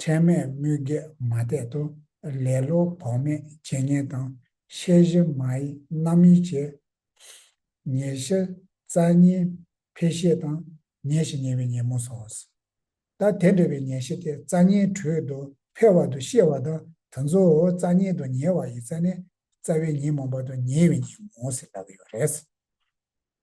ཁྲེལ་མེད་དམོད་བགེགས་མ་གཏད་དོ། ལེ་ལོ་བག་མེད་བྱས་ཉེས་དང། ཤེས་བཞི་མ་ཡི་རྣམ་དབྱེ་བྱས། ཉེར་བཞི་རྩ་གཉིས་འཕེལ་ཤེས་དང། ཉེས་བཞི་ཉེ་བའི་ཉེས་མོ་སོགས་སོ། ད་དེ་འདྲ་བའི་ཉེས་བཞི་དེ་རྩ་གཉིས་དྲོད་དུ་འཕེལ་བ་དུ་ཤེས་བ་དང་དུ་གཙོ་བོ་རྩ་གཉིས་དུ་ཉེ་བ་ཡི་རྩ་ནི་རྩ་བའི་ཉིན་མོ་བར་དུ་ཉེ་བའི་ཉིན་མོ་ཟེར་ལབ་ཡོད་རེད།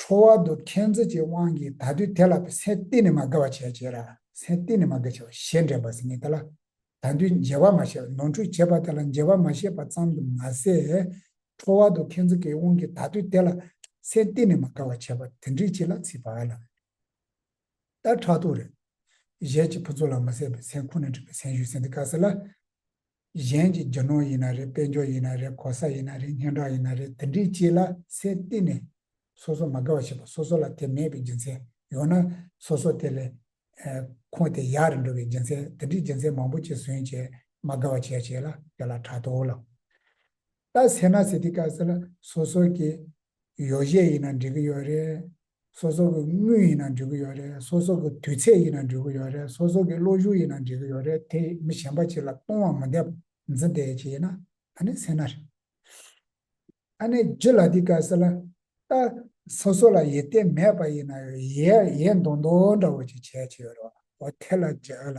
ཁྲོ་བ་དུ་མཁྱེན་བརྩེ་བཅས་དབང་གིས་ད་དུས་དེ་ལ་བས་སེམས་གཏིང་ནས་མ་དགའ་བ་བྱས་བྱས་ལ་སེམས་གཏིང་ནས་མ་དགའ་བྱས་པ་ཞེས་འདྲེན་པ་ཟིན་ངེས་ད་ལ་ད་དུས་འཇལ་བར་མ་བྱས་པ་ནོར་འཁྲུལ་བྱས་པ་དེ་ལ་འཇལ་བར་མ་བྱས་པ་ཙམ་དུ་མ་ཟད། ཁྲོ་བ་དུ་མཁྱེན་བརྩེ་བཅས་དབང་གིས་ད་དུས་དེ་ལ་སེམས་གཏིང་ནས་མ་དགའ་བ་བྱས་པ་དེ་འདྲིས་ཅི་ལ་ཚིག་བར་ལ། ལྟར་ཕྲག་དོག་རེད། གཞས་ཀྱི་ཕུན་ཚོགས་ལ་མ་བསྲེས་པའི་སེམས་ཁུང་ནས་བསྒྲིགས་པའི་སེམས་ཤུགས་ཟིན་ཏེ་དཀའ་ཟེར་ལ། གཞན་གྱི་རྒྱུ་ནོར་ཡིན་ན་རེད་དཔལ་འབྱོར་ཡིན་ན་རེད་གོ་ས་ཡིན་ན་རེད་སྙན་གྲགས་ཡིན་ན་རེད་དེ་འདྲའི་ཅི་ལ་སེར་བསྟི་ནས། སོ་སོ་མ་དགའ་བ་བྱེད་པ་སོ་སོ་ལ་དེ་མེད་པའི་རྒྱུ་མཚན་ཡོད་ན། སོ་སོ་དེ་ལས། ཁོང་དེ་ཡག་རེད་འགྲོ་བའི་རྒྱུ་མཚན་དེ་འདྲའི་རྒྱུ་མཚན་མང་པོ་བཅས་ཟོན་བྱས་མ་དགའ་བ་བྱས་བྱས་ལ་དེ་ལ་ཕྲག་དོག་ལ། ལྟ་ཟེར་ན་ཟེར་དེ་དཀའ་ཟེར་ལ་སོ་སོ་གྱི། ཡོ་གཞས་ཡིན་ན་འགྲིག་གི་ཡོད་རེད། སོ་སོ་གི་དངུལ་ཡིན་ན་འབྲི་གི་ཡོད་རེད་སོ་སོ་གི་དུས་ཚད་ཡིན་ན་འབྲི་གི་ཡོད་རེད་སོ་སོ་གི་བློ་གཞུག་ཡིན་ན་འབྲི་གི་ཡོད་རེད་དེ་མི་གཞན་པ་ཅིག་ལ་གཏོང་བ་མི་འདེབས་འཛི་བདེ་ཅིག་ཡིན་ན་ད་ནི་སེ་ན་རེད། ད་ནི་རྗེ་ལ་དེ་ག་ཟེར་ལ། ད་སོ་སོ་ལ་ཡིད་བརྟན་མེད་པ་ཡིན་ན་ཡའི་ཡའི་མདོག་མདོག་འདྲ་བོ་ཅིག་བྱས་ཅི་ཡོད་རེད་བ། འོ་དེ་ལ་རྗེ་ལ།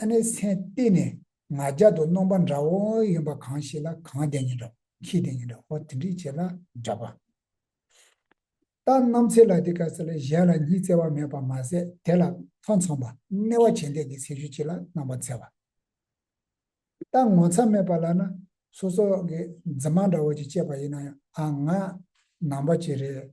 ཨ་ནེ་སེན་གཏི་ནས་ང་རྒྱ་དུ་སྣོམ་པ་འདྲ་བོ་ཡོན་པ་གང་ཞིག་ལ་གང་བསྡད་ཉིན་འདྲ་ཁྱི་བསྡད་ཉིན་འདྲ་ཧོ་དེ་འདྲིས་བྱེད་ལ་འདྲ་པ། ལྟ་ནམ་ཚེ་ལ་དེ་ག་ས་ལས་གཞན་ལ་ཉི་ཚེ་བ་མེད་པར་མ་ཟད་དེ་ལ་ཐོ་འཚོང་པ་སྣེ་བ་བྱེད་འདས་ཀྱི་ཚེ་ཤུལ་གྱི་ལ་སྣང་པ་འཚལ་བ། ལྟ་ངོ་ཚ་མེད་པ་ལ་ན་སོ་སོ་གི་རྫི་མ་འདྲ་བོ་ཅིག་སྐྱེས་པ་ཡིན་ན་ཡང་ཨ་ང་ནང་པ་ཅིག་རེད།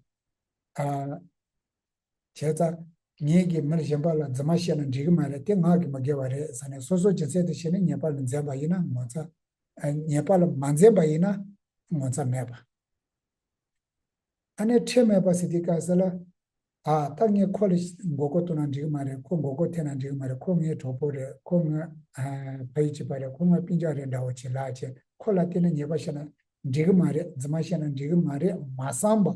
བྱས་ཙང། ངེད་ཀྱིས་མིར་གཞན་པ་ལ་རྫུན་མ་བཤད་ན་འགྲིག་གི་མ་རེད་དེ་ངག་གིས་མ་དགེ་བ་རེད་ཟེར་ནས་སོ་སོ་སྦྱིན་སྲེག་དུ་བྱས་ནས་ཉེས་པ་ལ་འཛེམ་པ་ཡིན་ན་ངོ་ཚ། ཉེས་པ་ལ་མ་འཛེམ་པ་ཡིན་ན་ངོ་ཚ་མེད་པ། ཨ་ནེ་ཁྲེལ་མེད་པ་སི་ཏི་ཀ་ཟེར་ལ། ཨ་ཏག་ངས་ཁོ་ལ་མགོ་སྐོར་གཏོང་ན་འགྲིག་གི་མ་རེད་ཁོ་མགོ་སྐོར་ཐེབས་ན་འགྲིག་གི་མ་རེད་ཁོ་ངའི་གྲོགས་པོ་རེད་ཁོ་ངའི་ཕ་ཡུལ་གྱི་པ་རེད་ཁོ་ངའི་པི་འཇག་རེད་འདྲ་བོ་བྱེད་ལགས་བྱས་ཁོ་ལ་བལྟས་ན་ཉེས་པ་བཤད་ན་འགྲིག་གི་མ་རེད་རྫུན་མ་བཤད་ན་འགྲིག་གི་མ་རེད་མ་བསམ་པ།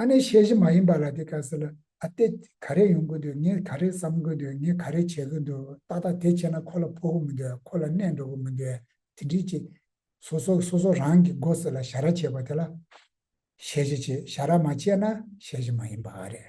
ཨ་ནེ་ཤེས་བཞིན་མ་ཡིན་པ་ལ་དེ་ག་ཟེར་ལ་ཨ་སྟེ་ག་རེ་ཡོང་གི་འདུག་ངས་ག་རེ་བསམ་གི་འདུག་ངས་ག་རེ་བྱེད་གི་འདུག་ཏག་ཏག་དེ་བྱས་ན་ཁོ་ལ་ཕོག་གི་མི་འདུག་ཁོ་ལ་གནས་འགྲོ་གི་མི་འདུག་དེ་འདྲིའི་ཅི། སོ་སོ་སོ་སོ་རང་གི་མགོ་སེར་ལ་བྱ་ར་བྱེད་པ་དེ་ལ། ཤེས་བཞིན་བྱེད་བྱ་ར་མ་བྱས་ན་ཤེས་བཞིན་མ་ཡིན་པ་རེད།